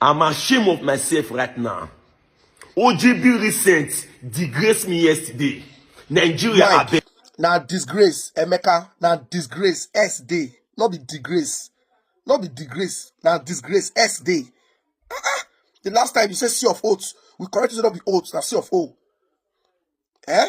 I'm ashamed of myself right now. OGB recent disgraced me yesterday. Nigeria Mike, abeg. na disgrace emeka na disgrace s dey no be disgrace no be disgrace na disgrace s dey ah ah the last time you say c of oats we correct you say no be oats na c of o eh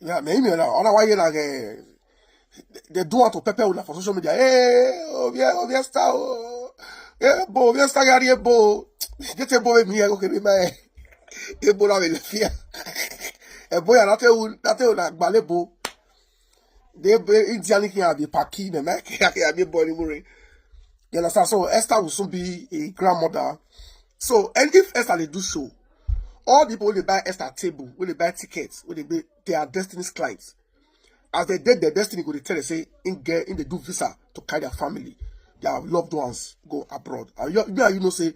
Yeah, me email now. Ona why you like eh, they do want to pepper una for social media. Hey, oh yeah, oh yeah, star. Oh. Yeah, bo, yeah, star gari bo. Get a boy me okay, me my. E bo na me fear. E bo ya na te un, na te un agbale bo. They be Indian king abi paki me make abi boy ni muri. You understand? So Esther will soon be a grandmother. So, and if Esther they do so, all the people wey dey buy extra table wey dey buy tickets wey dey buy they are destiny's clients as they dey their destiny go dey tell them say in get in dey do visa to carry their family their loved ones go abroad and you, you, you know say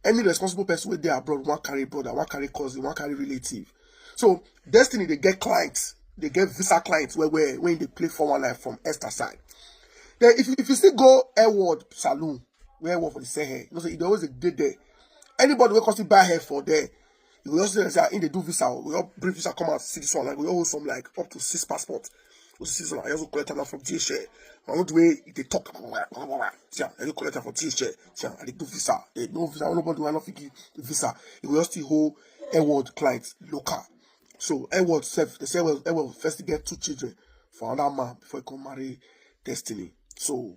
any responsible person wey dey abroad wan carry brother wan carry cousin wan carry relative so destiny dey get clients dey get visa clients well well when e dey play four one nine from extra side then if you if you still go airworld saloon wey airworld for the sahel you know say e dey always dey dey there Anybody wey come see buy hair for there, you go just see them say ah, in dey do visa, we all bring visa come out see this one, like we all hold some like up to six passport. We see this one, I just collect am from DHL. I know the way they talk, see am, I just collect am from DHL. See am, I dey do visa, they no visa, nobody wey no fit give visa. You go just still hold Edward client local. So Edward self, they say Edward, Edward first get two children for another man before he come marry Destiny. So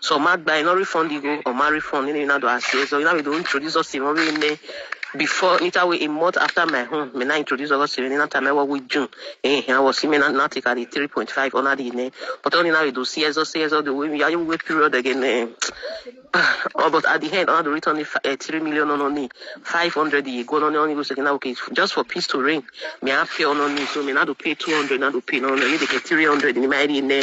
So ma gba ino refund igo or ma refund ini ina do ase. So ina we do introduce us in ori ne before nita we a month after my home me na introduce us in ina time wa we June. Eh I was me na na take at 3.5 ona di ne. But oni na we do see ezo see ezo do we ya you wait period again eh. Oh, but at the end ona do return the fi- eh, 3 million on oni 500 ye go on oni go say na okay just for peace to reign. Me I pay on oni so me na do pay 200 na do pay no no you dey get 300 in my area ne.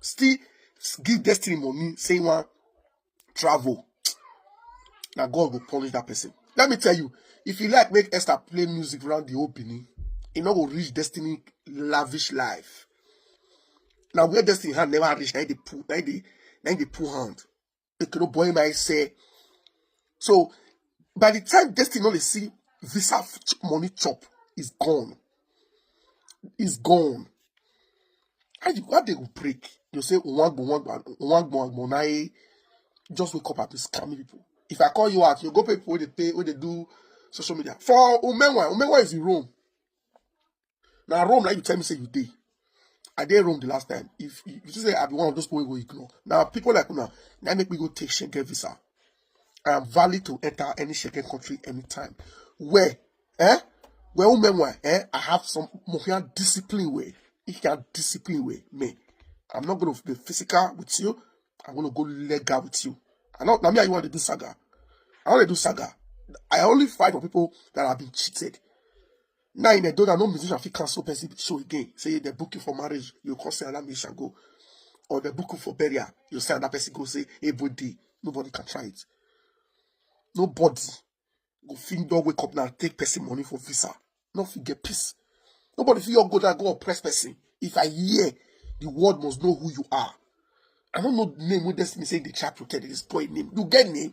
still give destiny money say you wan travel na god go punish that person let me tell you if you like make esther play music round the whole benin e no go reach destiny lavish life na where destiny hand never reach na e dey pull na e dey na e dey pull hand Make no boy my say. So by the time Destiny only see visa money chop is gone. Is gone. How you how they will break? You say one go one go one go one go just wake up and be scamming people. If I call you out, you go pay people when they pay when they do social media. For Umenwa, Umenwa is in Rome. na rome na you tell me say you dey i dey rome the last time if you you say i be one of those people wey go ignore na people like una na make me go take schengen visa i am valid to enter any schengen country anytime where eh where umenwa eh i have some mohian discipline way if you can discipline way me i'm not gonna be physical with you i'm gonna go legal with you i know na me and you want to do saga i want to do saga i only fight for people that have been cheated Now in Edoda, no musician fit cancel person show again. Say they book you for marriage, you come say another musician go. Or they book you for burial, you say another person go say everybody. Nobody can try it. Nobody go fit don wake up now take person money for visa. No fit get peace. Nobody fit your go there go oppress person. If I hear, the world must know who you are. I don't know the name wey destiny say they try protect this boy name. You get name?